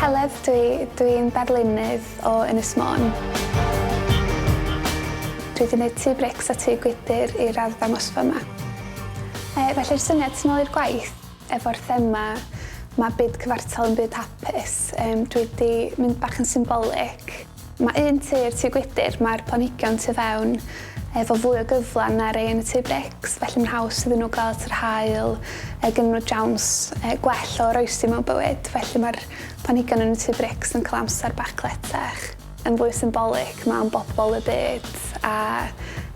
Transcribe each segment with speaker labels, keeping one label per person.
Speaker 1: Heledd dwi, dwi yn darlunydd o Ynys Môn. Dwi wedi neud tŷ brics a tŷ gwydyr i'r arddangosfa yma. Yy felly'r syniad tu nôl i'r gwaith efo'r thema 'ma byd cyfartal yn byd hapus yym dwi wedi mynd bach yn symbolic. Mae un tŷ i'r tŷ gwydr, mae'r planhigion tu fewn efo fwy o gyfle na rei yn y tŷ brics, felly mae'n haws iddyn nhw gael at yr haul a gennyn nhw siawns gwell o oroesi mewn bywyd, felly mae'r planhigion yn y tŷ brics yn cael amser bach cletach. Yn fwy symbolig, mae o'n bobl y byd a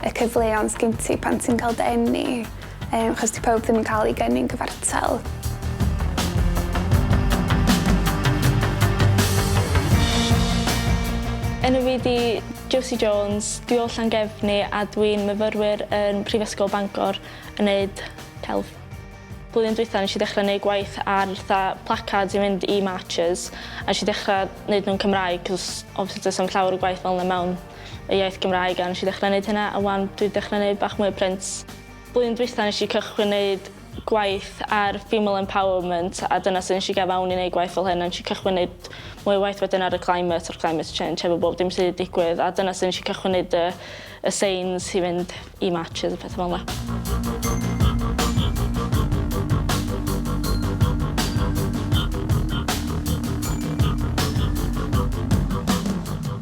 Speaker 1: y cyfleon sgin ti pan ti'n cael dy eni. Yym, achos di pawb ddim yn cael ei geni'n gyfartal.
Speaker 2: Enw fi di Josie Jones, dwi o Llangefni a dwi'n myfyrwyr yn Prifysgol Bangor yn neud celf. Blwyddyn dwytha nes i ddechrau neud gwaith ar tha placards i fynd i marches a nes i ddechrau neud nhw'n Cymraeg cos obviously does am llawer o gwaith fel yna mewn y iaith Gymraeg a nes i ddechrau neud hynna a wan dwi dechra neud bach mwy o print. Blwyddyn dwytha nes i cychwyn neud gwaith ar female empowerment a dyna sut nes i gau fewn i neud gwaith fel hyn a nes i cychwyn neud mwy o waith wedyn ar y climate a'r climate change hefo bob dim sy 'di digwydd a dyna sut nes i cychwyn neud y y signs i fynd i marches a petha fel 'na.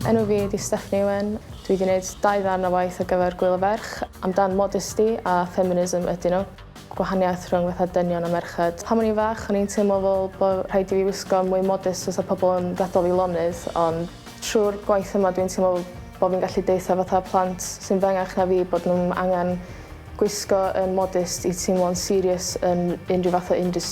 Speaker 3: Enw fi ydi Stephanie Owen. Dwi 'di neud dau ddarn o waith ar gyfer Gŵyl y Ferch amdan modesty a feminism ydyn nhw. gwahaniaeth rhwng fatha dynion a merched. Pan o'n i'n fach o'n i'n teimlo fel bo' rhaid i fi wisgo'n mwy modest fysa pobl yn gadal fi lonydd ond trw'r gwaith yma dwi'n teimlo bo' fi'n gallu deutha fatha plant sy'n fy engach na fi bod nw'm angan gwisgo yn modest i teimlo'n serious yn unrhyw fath o industry.